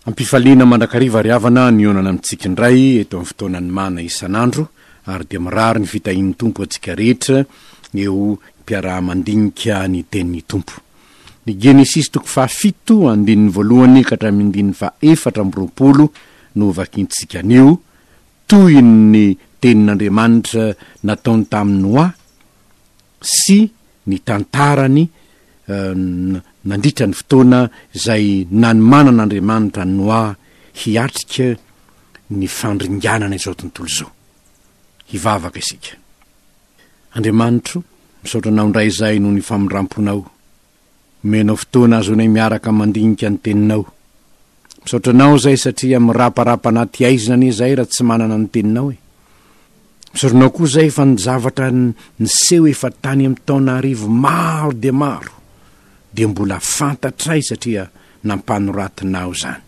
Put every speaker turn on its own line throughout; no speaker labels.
Am-pifaliana mandrakariva ry havana ny hihaonana amintsika indray eto amin'ny fotoanan'ny mana isan'andro ary dia mirary ny fitahian'ny Tompo antsika rehetra eo mpiaraha-mandinika ny tenin'ny Tompo. Ny Genesisy toko faha fito andininy voalohany ka hatramin'ny andininy faha efatra amby roapolo no hovakintsika anio, toy ny tenin'Andriamanitra nataony tamin'i Noa, sy ny tantarany nandritra ny fotoana izay nanomanana Andriamanitra an'i Noa hiatrika ny fandringanana izao tontolo izao. Hivavaka isika. Andriamanitro, misaotra Anao indray izay noho ny famindramponao. Omenao fotoana azonay miaraka mandinika ny teninao. Misaotra anao zay satria miraparapa anaty aizina anie zay ra tsy manana ny teninao e. Misaotra anao koa zay fa ny zavatra niseho efa tany am taona arivo maro dia maro dia mbola fantatray satria nampanoratinao zany.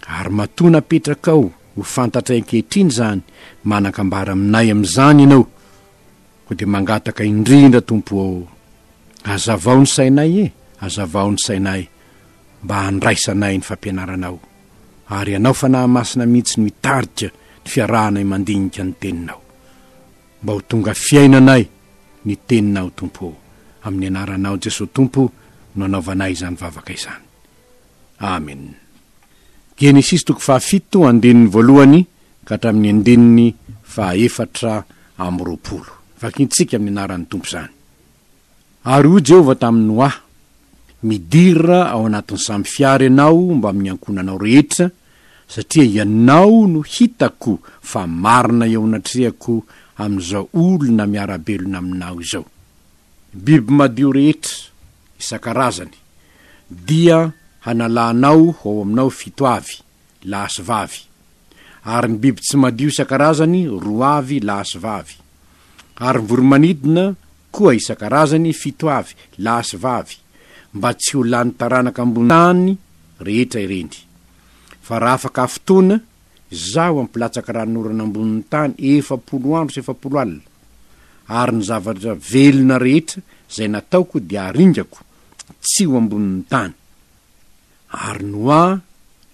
Ary matoa napetrakao ho fantatray ankehitriny zany manakambara aminay amzany ianao Koa dia mangataka indrindra Tompo ô, azavao ny sainay e, azavao ny sainay mba handraisanay ny fampianaranao, ary Ianao Fanahy Masina mihitsy no hitarika ny fiarahanay mandinika ny Teninao. Mba ho tonga fiainanay ny Teninao Tompo ô, amin'ny Anaranao Jesoa Tompo no anaovanay izany vavaka izany. Amen. Genesisy toko fahafito andininy voalohany ka hatramin'ny andininy fahaefatra amby roapolo. Vakintsika amin'ny anaran'ny Tompo izany. Ary hoy Jehovah tamin'i Noa, Midira ao anatin'ny sambo fiara ianao mbamin'ny ankohonanao rehetra, satria ianao no hitako fa marina eo anatrehako amin'izao olona miara-belona aminao izao. Biby madio rehetra, isan-karazany, dia hanalanao ho ao aminao fito avy, lahy sy vavy, ary ny biby tsy madio isan-karazany roa avy, lahy sy vavy, ary ny voro-manidina koa isan-karazany fito avy, lahy sy vavy, mba tsy ho lany taranaka ambony tany rehetra ireny. Fa raha afaka fotoana, Izaho hampilatsaka ranon'orana ambonin'ny tany efapolo andro sy efapolo alina, ary ny zavatra velona rehetra izay nataoko dia haringako, tsy ho ambonin'ny tany. Ary Noa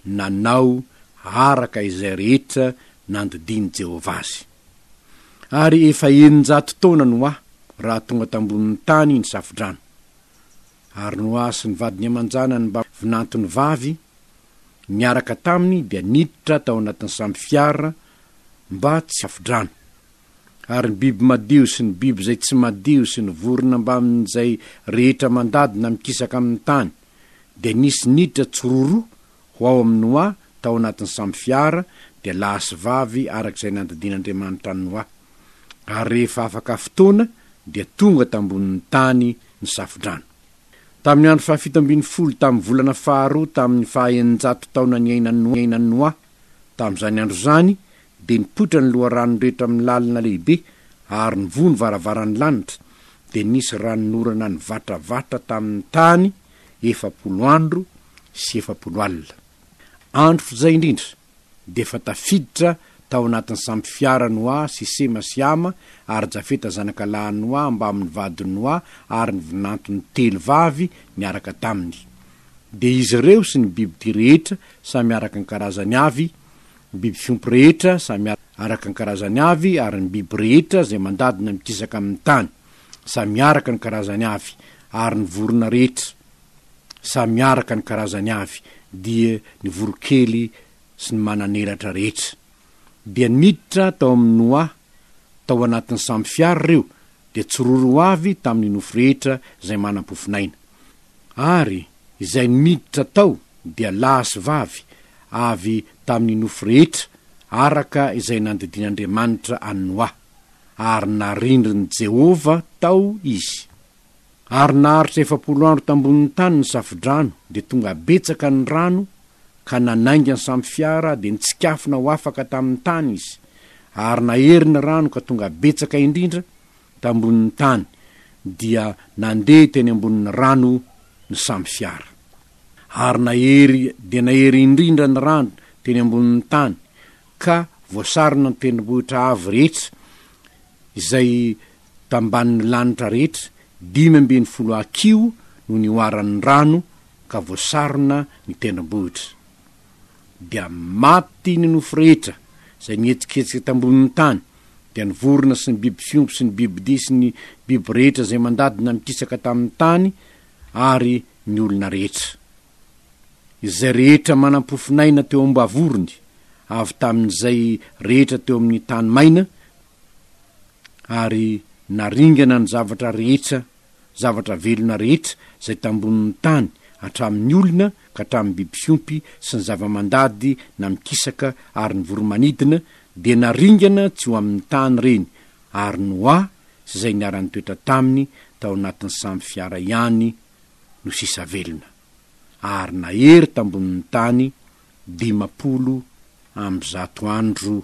nanao araka izay rehetra nandidian'i Jehovah azy. Ary efa eninjato taona Noa raha tonga tambonin'ny tany ny Safodrano. Ary Noa sy ny vadiny aman-janany mba vinantony vavy niaraka taminy dia niditra tao anatin'ny samy fiara mba tsy ho Safodrano. ary ny biby madio sy ny biby izay tsy madio sy ny vorona mbamin'izay rehetra mandady na mikisaka amin'ny tany, dia nisy niditra tsororoa ho ao amin'i Noa tao anatin'ny sambo fiara, dia lahy sy vavy araka izay nandidian'Andriamanitra an'i Noa. Ary rehefa afaka fotoana, dia tonga tambonin'ny tany ny Safodrano. Tamin'ny andro fahafito ambin'ny folo tamin'ny volana faharoa tamin'ny faha-eninjato taona niainan'i Noa, tamin'izany andro izany Dia nipoitra ny loharanony rehetra amin'ny lalina lehibe, ary nivoha ny varavaran'ny lanitra, dia nisy ranon'orana nivatravatra tamin'ny tany efapolo andro sy efapolo alina. Andro foza indrindra, dia efa tafiditra tao anatin'ny sampy fiara Noa sy Sema sy Hama ary Jafeta zanaka lahin'i Noa mbamin'ny vadin'i Noa ary ny vinantony telo vavy niaraka taminy. Dia izy ireo sy ny bibidia rehetra samy araka ny karazany avy Ny biby fiompy rehetra samy araka ny karazany avy ary ny biby rehetra izay mandady na mikisaka amin' ny tany samy araka ny karazany avy ary ny vorona rehetra samy araka ny karazany avy dia ny voronkely sy ny manan'elatra rehetra dia niditra tao amin' ny Noaha Tao anatin'ny sambo fiara ireo dia tsy roa roa avy tamin'ny nofo rehetra izay manam-pofon'aina. Ary izay niditra tao dia lahy sy vavy avy tamin'ny nofo rehetra araka izay nandidian'Andriamanitra an'i Noa, ary narindrin'i Jehovah tao izy. ary naharitra efapolo andro tambonin'ny tany ny safodrano dia tonga betsaka ny rano ka nanainga ny samy fiara dia nitsikafona ho afaka tamin'ny tany izy ary nahery ny rano ka tonga betsaka indrindra tambonin'ny tany dia nandeha teny ambonin'ny rano ny samy fiara ary nahery dia nahery indrindra ny rano teny ambonin'ny tany ka voasarona ny tendrombohitra avo rehetra izay Tambanin'ny lanitra rehetra dimy ambin'ny folo ha kiho no nihoaran'ny rano ka voasarona ny tendrombohitra. Dia maty ny nofo rehetra izay mihetsiketsika tambonin'ny tany, dia ny vorona sy ny biby fiompy sy ny bibidia sy ny biby rehetra izay mandady nanikisaka tamin'ny tany ary ny olona rehetra. Izay rehetra manam-pofon'aina teo am-bavorony, avy tamin'izay rehetra teo amin'ny tany maina, ary naringana ny zavatra rehetra, zavatra velona rehetra izay tambonin'ny tany, hatramin'ny olona ka hatramin'ny biby fiompy sy ny zava-mandady na mikisaka ary ny voro-manidina, dia naringana tsy ho amin'ny tany ireny, ary Noa sy izay niara-nitoetra taminy tao anatin'ny sambo fiara ihany no sisa velona. Ary nahery tambonin'ny tany dimampolo amby zato andro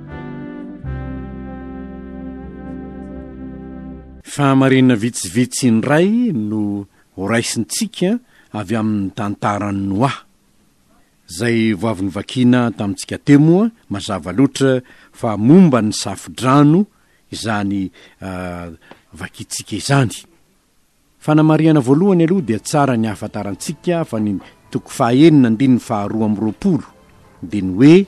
Fahamarinana vitsivitsy indray no horaisintsika avy amin'ny tantaran'i Noa. Izay vao avy novakiana tamintsika teo moa mazava loatra fa momba ny safo-drano izany vakintsika izany. Fanamarihana voalohany aloha dia tsara ny ahafantarantsika fa ny toko fahaenina andininy faharoa amby roapolo dia ny hoe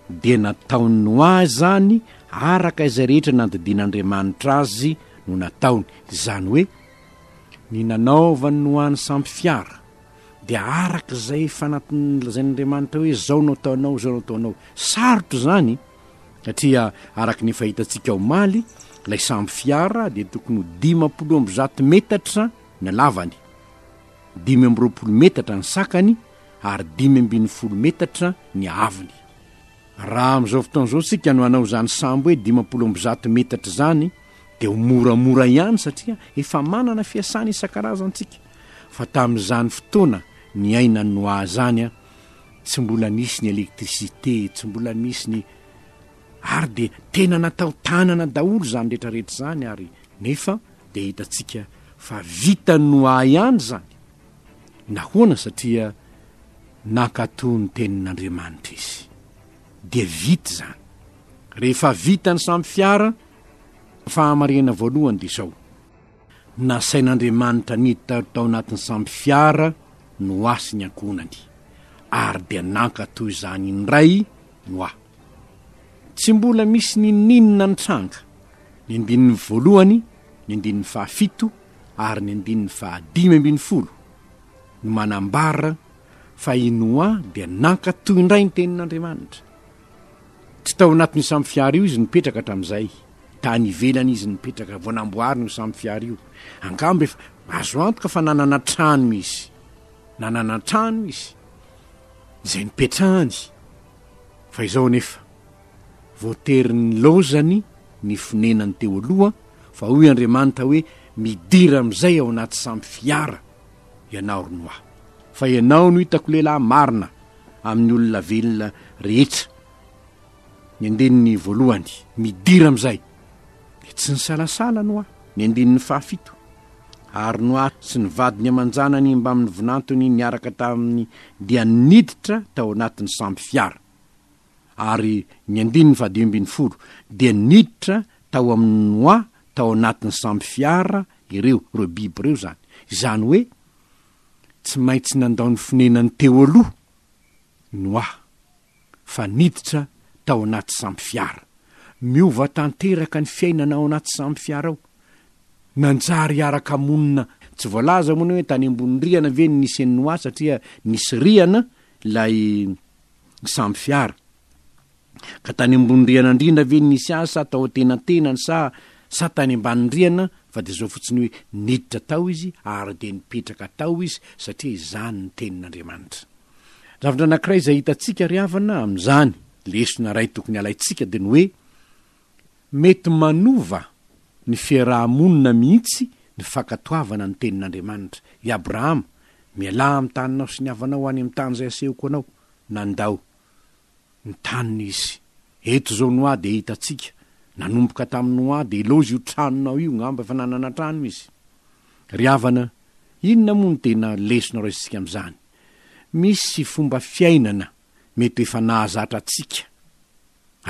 dia nataon'i Noa izany araka izay rehetra nandidian'Andriamanitra azy no nataony, izany hoe ny nanaovan'i Noa ny sampy fiara dia araka izay efa nolazain'Andriamanitra hoe izao no ataonao, izao no ataonao. Sarotra izany! satria araka ny efa hitantsika omaly, ilay sambo fiara dia tokony ho dimampolo amby zato metatra ny halavany, dimy amby roapolo metatra ny sakany ary dimy ambin'ny folo metatra ny haavony. Raha amin'izao fotoana izao isika no hanao izany sambo hoe dimampolo amby zato metatra izany dia ho moramora ihany satria efa manana fiasana isan-karazany isika, fa tamin'izany fotoana niainan'i Noa izany, tsy mbola nisy ny électricité, tsy mbola nisy ny ary dia tena natao tanana daholo izany rehetra rehetra izany ary nefa dia hitantsika fa vitan'ny ho ahy ihany izany, nahoana satria nankatò ny tenin'Andriamanitra izy dia vita izany, rehefa vita ny samy fiara, fahamarinana voalohany dia izao. Nasain'Andriamanitra niditra tao anatin'ny sambo fiara Noa sy ny ankohonany, ary dia nankatò izany indray Noa. Tsy mbola misy n'inon'inona nitranga, ny andininy voalohany, ny andininy fahafito ary ny andininy fahadimy ambin'ny folo no manambara fa i Noa dia nankatò indray ny tenin'Andriamanitra. Tsy tao anatin'io sambo fiara io izy nipetraka hatramin'izay. Tany ivelany izy nipetraka vao namboarina io samfiara io. Angamba efa azo antoka fa nanana trano izy. Nanana trano izy, izay nipetrahany. Fa izao anefa, voatery nilaozany ny fonenany teo aloha, fa hoy Andriamanitra hoe, Midira amin'izay ao anaty samfiara ianao, ry Noa, fa ianao no hitako lehilahy marina amin'ny olona velona rehetra. Ny andininy voalohany, midira amin'izay, dia tsy nisalasala Noa, ny andininy fahafito, Ary Noa sy ny vadiny aman-janany mbamin'ny vinantony niaraka taminy dia niditra tao anatin'ny sambo fiara, ary ny andininy fahadimy ambin'ny folo, Dia niditra tao amin'i Noa tao anatin'ny sambo fiara ireo, ireo biby ireo izany, izany hoe tsy maintsy nandao ny fonenany teo aloha Noa. fa niditra tao anaty sampy fiara. Miova tanteraka ny fiainana ao anaty sampy fiara ao. Nanjary hiara-kamonina. Tsy voalaza moa ny hoe tany ambony rihana ve ny nisian'ny noix satria nisy rihana ilay sampy fiara. Ka tany ambony rihana indrindra ve ny nisy azy sa tao an-tenantenany sa sa tany ambany rihana fa dia izao fotsiny hoe niditra tao izy ary dia nipetraka tao izy satria izany ny tenin'Andriamanitra. Zavatra anankiray izay hitantsika ry havana amin'izany, lesona iray tokony halaintsika dia ny hoe, mety manova ny fiaraha-monina mihitsy ny fankatoavana ny tenin'Andriamanitra. I Abrahama, Mialà amin'ny taninao sy ny havanao any amin'ny tany izay asehoko anao, nandao. ny taniny izy. Eto izao ny hoa dia hitantsika, nanomboka tamin'ny hoa dia ilaozy io tranonao io ngamba efa nanana trano izy. Ry havana, inona moa no tena lesona raisintsika amin'izany? Misy fomba fiainana mety ho efa nahazatra antsika.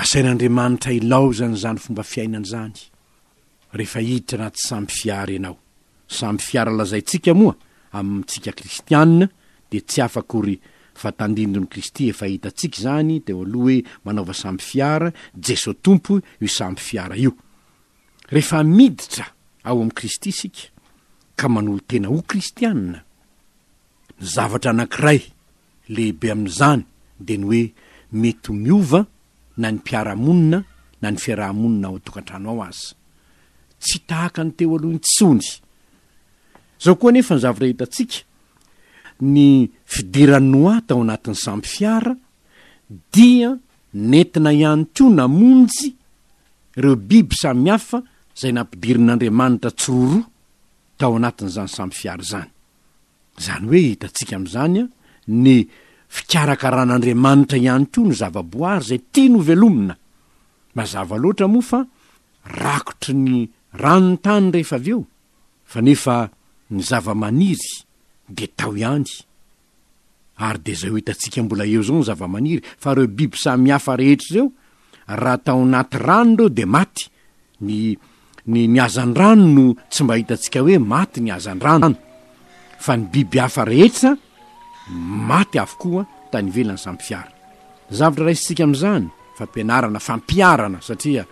Asain'Andriamanitra ilaozana izany fomba fiainana izany. rehefa hiditra anaty sambo fiara ianao. Sambo fiara lazaintsika moa amintsika kristiana dia tsy hafa akory fa tandindon'i Kristy efa hitantsika izany teo aloha hoe manaova sambo fiara, Jeso Tompo io sambo fiara io. Rehefa miditra ao amin'i Kristy isika ka manolo-tena ho kristiana, ny zavatra anankiray, lehibe amin'izany dia ny hoe mety ho miova na ny mpiara-monina na ny fiaraha-monina ao an-tokantrano ao aza. Tsy tahaka ny teo aloha intsony. Izao koa anefa ny zavatra hitantsika, ny fidiran'i Noa tao anatin'ny sambo fiara dia nentina ihany koa namonjy ireo biby samihafa izay nampidirin'Andriamanitra tsiroroa tao anatin'izany sambo fiara izany. Izany hoe hitantsika amin'izany ny fikarakaran'Andriamanitra ihany koa ny zavaboary izay tiany ho velomina. Mazava loatra moa fa rakotry ny rano ny tany rehefa avy eo, fa nefa ny zava-maniry dia tao ihany. Ary dia izay ho hitantsika mbola eo izao ny zavamaniry, fa ireo biby samy hafa rehetra ireo, raha tao anaty rano ireo dia maty, ny, ny, ny hazandrano no tsy mba hitantsika hoe maty ny hazandrano, fa ny biby hafa rehetra maty avokoa tany ivelany samy fiara. Zavatra raisintsika amin'izany, fampianarana, fampiharana, satria.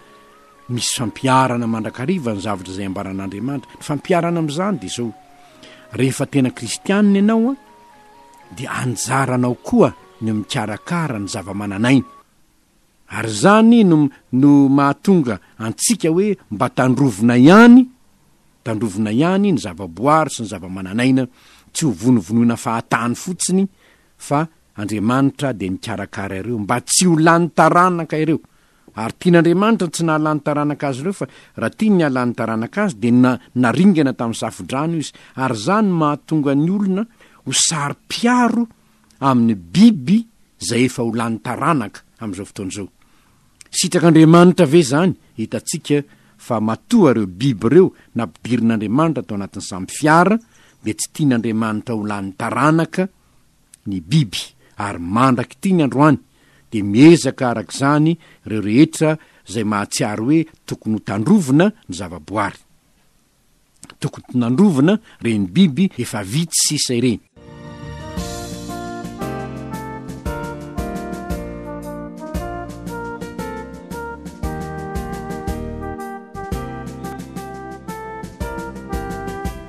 Misy fampiharana mandrakariva ny zavatra izay ambaran'Andriamanitra. Ny fampiharana amin'izany dia izao, rehefa tena kristianina ianao dia anjaranao koa ny mikarakara ny zava-manan'aina. Ary izany no no mahatonga antsika hoe mba tandrovina ihany, tandrovina ihany ny zavaboary sy ny zava-manan'aina, tsy ho vonovonoina fahatany fotsiny fa Andriamanitra dia nikarakara ireo mba tsy ho lany taranaka ireo Ary tian'Andriamanitra ny tsy nahalany taranaka azy ireo, fa raha tiany ny hahalany taranaka azy, dia na, naringana tamin'ny safodrano izy. Ary izany mahatonga ny olona ho saro-piaro amin'ny biby izay efa ho lany taranaka amin'izao fotoana izao. Sitrak'Andriamanitra ve izany? Hitantsika fa matoa ireo biby ireo nampidirin'Andriamanitra tao anatin'ny samy fiara, dia tsy tian'Andriamanitra ho lany taranaka, ny biby ary mandrak'ity ny androany dia miezaka arak'izany ireo rehetra izay mahatsiaro hoe tokony ho tandrovina ny zavaboary. Tokony tnandrovina ireny biby efa vitsy sisa ireny.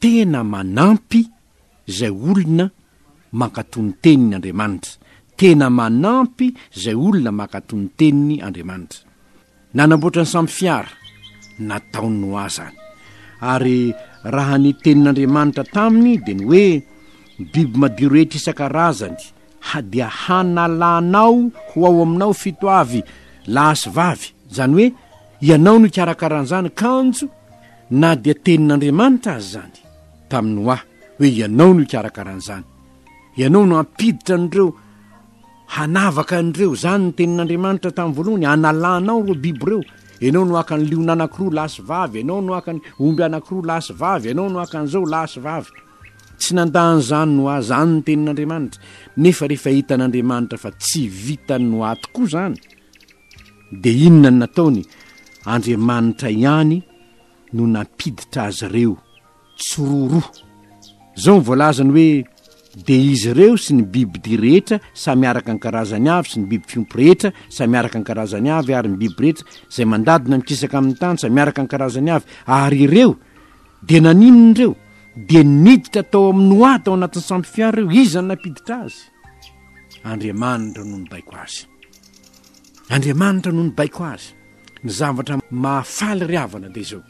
Tena manampy zay olona mankato ny teniny Andriamanitra. Tena manampy zay olona mankato ny teniny Andriamanitra. Nanamboatra ny sambo fiara, nataon'i Noa zany. Ary raha ny tenin'Andriamanitra taminy dia ny hoe, Ny biby madio rehetra isan-karazany, ha dia hanalanao ho ao aminao fito avy lahy sy vavy. Zany hoe, ianao no hikarakara an'zany kanjo Na dia tenin'Andriamanitra aza izany tamin'i Noa hoe ianao no hikarakara an'izany, ianao no hampiditra an'ireo hanavaka an'ireo, izany ny tenin'Andriamanitra tamin'ny voalohany, hanalanao ireo biby ireo, ianao no haka ny liona anankiroa lahy sy vavy, ianao no haka ny omby anankiroa lahy sy vavy, ianao no haka an'izao lahy sy vavy. Tsy nandà an'izany Noa, izany ny tenin'Andriamanitra. Nefa rehefa hitan'Andriamanitra fa tsy vitan'i Noa tokoa izany, Dia inona no nataony? Andriamanitra ihany no nampiditra azy ireo tsiroroa. Izao no voalazany hoe, Dia izy ireo sy ny bibidia rehetra samy araka ny karazany avy, sy ny biby fiompy rehetra samy araka ny karazany avy, ary ny biby rehetra izay mandady na mikisaka amin'ny tany samy araka ny karazany avy. Ary ireo dia naninona ireo? Dia niditra tao amin'i Noa tao anatin'ny sambo fiara ireo. Iza no nampiditra azy? Andriamanitra no nibaiko azy. Andriamanitra no nibaiko azy. Ny zavatra mahafaly ry havana dia izao,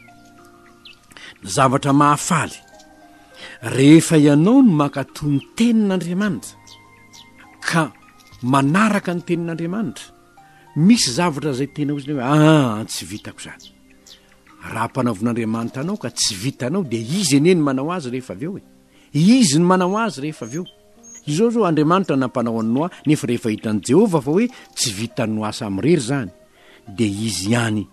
ny zavatra mahafaly rehefa ianao no mankatò ny tenin'Andriamanitra ka manaraka ny tenin'Andriamanitra, misy zavatra izay tena ohatrany hoe aa tsy vitako izany. Raha ampanaovin'Andriamanitra anao ka tsy vitanao dia izy anie ny manao azy rehefa avy eo e, izy ny manao azy rehefa avy eo. Izao izao, Andriamanitra nampanao an'i Noa, nefa rehefa hitan'i Jehovah fa hoe tsy vitan'i Noa Samy irery izany, dia izy ihany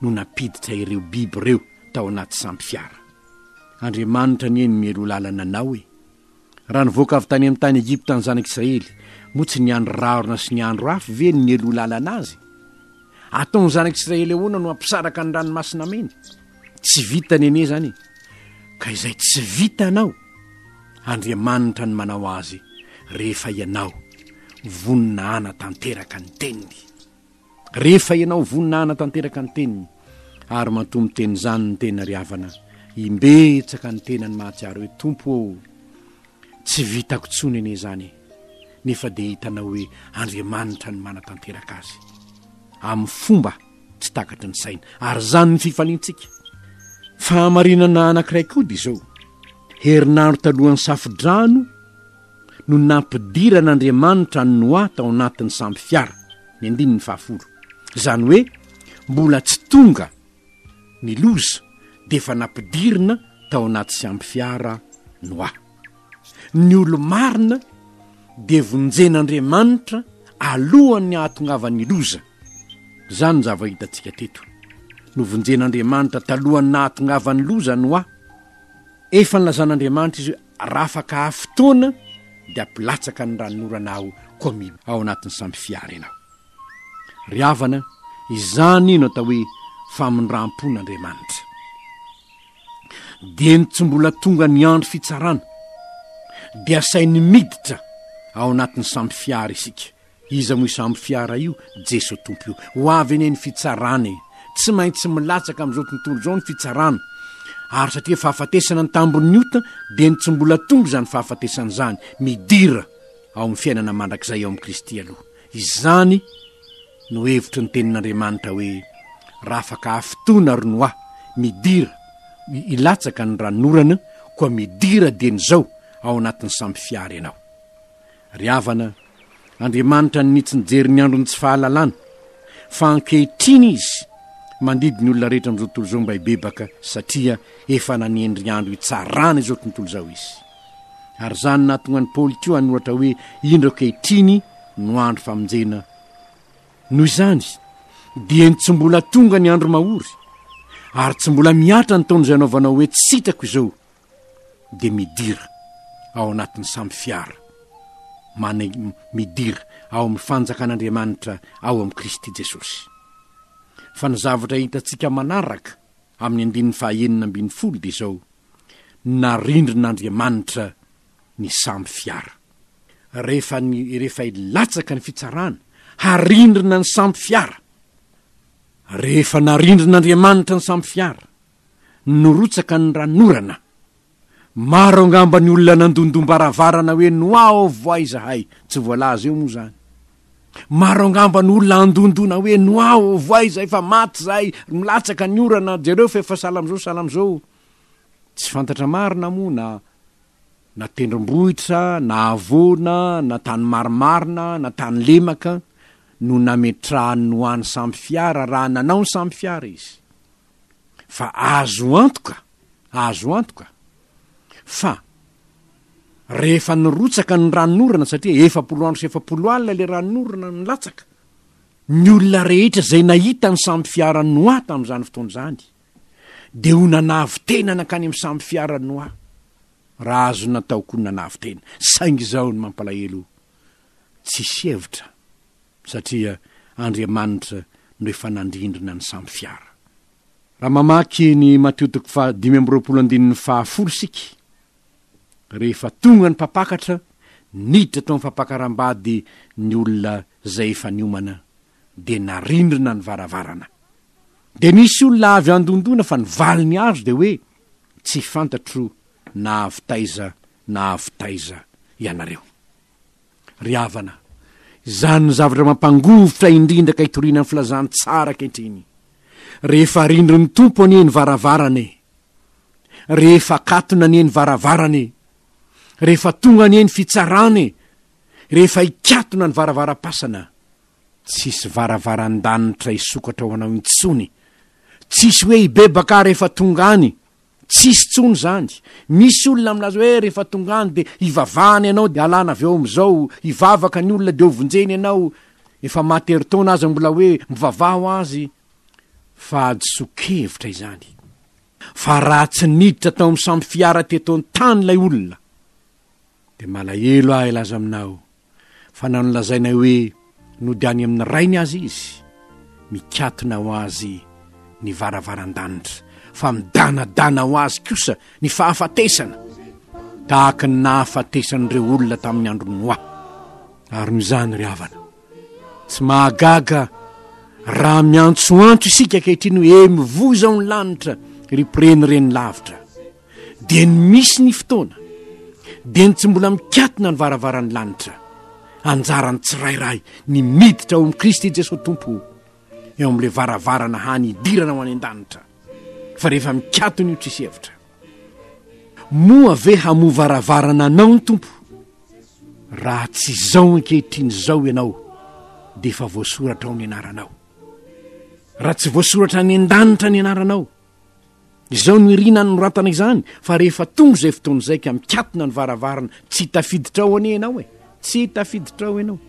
no nampiditra ireo biby ireo tao anaty sambo-fiara. Andriamanitra anie no mialoha lalana anao e! Raha nivoaka avy tany amin'ny tany Egypta ny Zanak'Israely, moa tsy ny andro rahona sy ny andro afo ve no nialoha lalana azy? Ataon'ny Zanak'Israely ahoana no hampisaraka ny Ranomasina Mena? tsy vita nene zany ka izay tsy vita anao andriamanitra ny manao azy rehefa ianao vonina ana tanteraka ny teniny rehefa ianao vonina ana tanteraka ny teniny ary mantomy teny zany ny tena ry avana imbetsaka ny tena ny mahatsiaro hoe tompo o tsy vitako tso nene zany nefa dia hitanao hoe andriamanitra ny manatanteraka azy amin'ny fomba tsy takatry ny saina ary izany ny fifaliantsika fahamarinana anankiray koa dia izao herinandro talohan'ny safodrano no nampidiran'andriamanitra ny noa tao anatin'ny samby fiara ny andininy fahafolo izany hoe mbola tsy tonga ny loza dia efa nampidirina tao anaty samby fiara noa ny olo marina dia vonjen'andriamanitra alohan'ny hahatongavan'ny loza Izany njava hitantsika teto. Novonjen'Andriamanitra talohan'ny nahatongavan'ny loza Noa. Efa nilazan'Andriamanitra izy hoe rafaka haha fotoana dia hampilatsaka ny ranon'orana aho koa mi ao anatin'ny sambo fiara ianao. Ry havana, izany no atao hoe famindram-pon'Andriamanitra. Dieny tsy mbola tonga ny andro fitsarana dia asainy miditra ao anatin'ny sambo fiara isika. Iza moa isambo fiara io Jeso Tompo io. Ho avy anie ny fitsarana e. Tsy maintsy milatsaka amin'izao tontolo izao ny fitsarana. Ary satria fahafatesana ny tambon'ny ota dia ny tsy mbola tonga izany fahafatesana izany. Midira ao amin'ny fiainana mandrakizay ao amin'i Kristy aloha. Izany no hevitry ny tenin'Andriamanitra hoe rafaka hafitoana ry Noa, midira, hilatsaka ny ranonorana, koa midira dieny izao ao anatin'ny sambo fiara ianao. Ry havana, Andriamanitra nitsy nijery ny andron'ny tsy fahalalana, fa ankehitriny Izy mandidy ny olona rehetra amin'izao tontolo izao mba hibebaka, satria efa nanendry andro hitsarana izao tontolo izao Izy. Ary izany no nahatonga an'i Paoly koa hanoratra hoe, Indro ankehitriny no andro famonjena. Noho izany, dieny tsy mbola tonga ny andro mahory, ary tsy mbola mihatra ny taona izay anaovanao hoe tsy sitrako izao, dia midira ao anatin'ny samy fiara, man, midira ao amin'ny fanjakan'Andriamanitra ao amin'i Kristy Jesosy. Fa ny zavatra hitantsika manaraka amin'ny andininy fahaenina ambin'ny folo dia izao, narindrin'Andriamanitra ny samy fiara. Rehefa, ny, rehefa hilatsaka ny fitsarana, harindrina ny samy fiara. Rehefa narindrin'Andriamanitra ny samy fiara, nirotsaka ny ran'orana. Maro angamba ny olona nandondom-baravarana hoe noavo ahy izahay, tsy voalaza eo moa izany. Maro angamba ny olona handondona hoe noavo ahy izahay fa maty izahay, milatsaka ny orana, jereo fa efa sahala amin'izao sahala amin'izao. Tsy fantatra marina moa na na tendrombohitra na havoana na tany marimarina na tany lemaka no nametrahany ny ho an'ny samy fiara raha nanao ny samy fiara izy. fa azo antoka, azo antoka fa rehefa nirotsaka ny ranonorana satria efapolo andro sy efapolo alina ilay ranonorana nilatsaka, ny olona rehetra izay nahita ny sambo fiara noa tamin'izany fotoana izany dia ho nanavotena nankany amin'ny sambo fiara noa raha azo natao koa ny nanavotena saingy izao ny mampalahelo tsisy hevitra satria Andriamanitra no efa nandrindrina ny samy fiara. Raha mamaky ny Matio toko faha dimy amby roapolo andininy faha folo isika, rehefa tonga ny mpampakatra, niditra tao amin'ny fampakaram-bady ny olona izay efa niomana, dia narindrina ny varavarana. Dia nisy olona avy handondona fa ny valiny azo dia hoe, Tsy fantatro na avy taiza na avy taiza ianareo. Ry havana, izany no zavatra mampangovitra indrindra ka itoriana ny Filazantsara ankehitriny. Rehefa rindrin'ny Tompo anie ny varavarana e! Rehefa akatona anie ny varavarana e! Rehefa tonga anie ny fitsarana e! Rehefa ikatona ny varavaram-pasana, tsisy varavaran-danitra hisokatra ho anao intsony. Tsisy hoe hibebaka aho rehefa tonga any. Tsisy tsony zany, misy olona milaza hoe rehefa tonga any de hivavahana ianao de alana avy eo amizao, hivavaka ny olona de hovonjeny ianao, efa maty herintaona aza mbola hoe mivavaha ho azy, fa hadisoan-kevitra izany, fa raha tsy niditra tao amin'ny samy fiara teto an-tany ilay olona, Dia malahelo aho hilaza aminao fa na nolazainay hoe nody any amin'ny Rainy aza Izy, mikatona ho Azy ny varavaran-danitra, fa midanadana ho Azy kosa ny fahafatesana, tahaka ny nahafatesan'ireo olona tamin'ny andron'i Noa. Ary noho izany, ry havana, tsy mahagaga raha miantsoantso isika ankehitriny hoe, Mivoy izao ny lanitra, ry mpirenireny lavitra! Dia ny misy ny fotoana, dia ny tsy mbola mikatona ny varavaran'ny lanitra. Anjaran'ny tsirairay ny miditra ao amin'i Kristy Jesoa Tompo, eo amin'ilay varavarana hany hidirana ho any an-danitra. Fa rehefa mikatona io tsisy hevitra. Moa ve hamoa varavarana anao ny Tompo? Raha tsy izao ankehitriny izao ianao, dia efa voasoratra ao ny anaranao. Raha tsy voasoratra any an-danitra ny anaranao, Izao no irina anoratana izany fa rehefa tonga izay fotoana izay ka mikatona ny varavarana tsy tafiditra ao anie ianao e tsy tafiditra ao ianao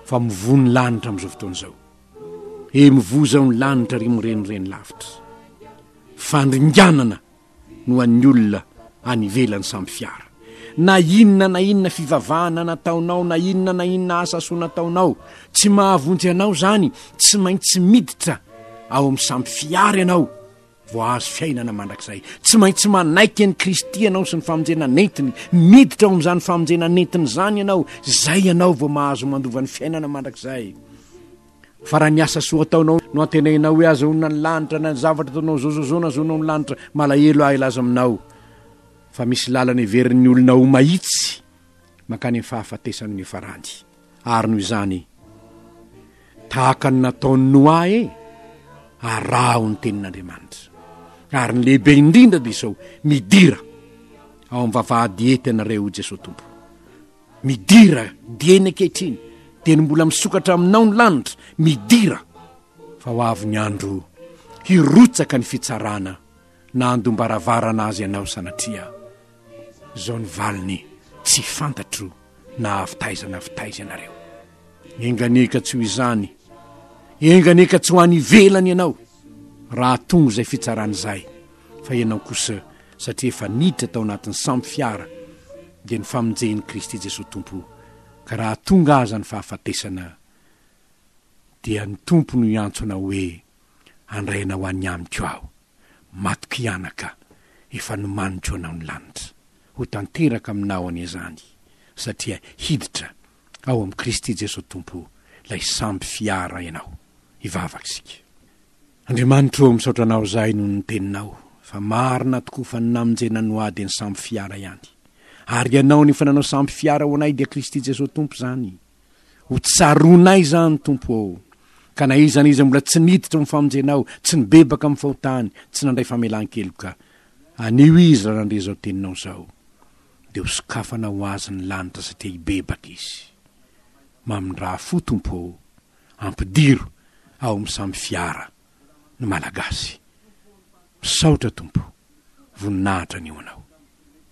fa mivoa ny lanitra amin'izao fotoana izao e mivoa izao ny lanitra ry mirenireny lavitra fandringanana no an'ny olona any ivelany samy fiara Na inona na inona fivavahana nataonao, na inona na inona asa soa nataonao, tsy mahavonjy anao izany, tsy maintsy miditra ao amin'ny sampy fihary ianao vao hahazo fiainana mandrakizay. Tsy maintsy manaiky an'i Kristy ianao sy ny famonjena nentiny, miditra ao amin'izany famonjena nentiny izany ianao, izay ianao vao mahazo mandova ny fiainana mandrakizay. Fa raha ny asa soa ataonao no antenainao hoe ahazoana ny lanitra, na ny zavatra ataonao zao zao zao no ahazoanao ny lanitra, malahelo aho hilaza aminao. fa misy lalana heverin'ny olona ho mahitsy mankany amin'ny fahafatesany ny farandy, ary noho izany, tahaka ny nataon'i Noa e, araho ny tenin'Andriamanitra. Ary ny lehibe indrindra dia izao, midira ao amin'ny vavahady hety anareo Jesoa Tompo. Midira dieny ankehitriny, dia ny mbola misokatra aminao ny lanitra, midira fa ho avy ny andro hirotsaka ny fitsarana na handom-baravarana azy ianao sanatria. Izao ny valiny, Tsy fantatro na avy taiza na avy taiza ianareo. Enganie ka tsy ho izany, enganie ka tsy ho any ivelany ianao, raha tonga izay fitsarana izay, fa ianao kosa satria efa niditra tao anatin'ny sambo fiara, dia ny famonjen'i Kristy Jesoa Tompo, ka raha tonga aza ny fahafatesana, dia ny Tompo no hiantso anao hoe. Handray anao any amiko aho, matoky anaka, efa nomaniko anao ny lanitra. Ho tanteraka aminao anie izany, satria hiditra ao amin'i Kristy Jesoa Tompo ilay sambo fiara ianao. Hivavaka isika. Andriamanitro ô, misaotra anao izahay noho ny teninao, fa marina tokoa fa ny namonjena no ahy dia ny sambo fiara ihany. Ary ianao no efa nanao sambo fiara ho anay dia Kristy Jesoa Tompo izany. Ho tsaroanay izany, Tompo ô, ka na iza na iza mbola tsy niditra amin'ny famonjenao, tsy nibebaka amin'ny fahotany, tsy nandray famelan-keloka, anio izy raha nandre izao teninao izao, dia ho sokafana ho azy ny lanitra satria hibebaka izy. Mamindraha fo, Tompo ô, ampidiro ao amin'ny samy fiara ny Malagasy. Misaotra, Tompo. Voninahitra ny ho Anao.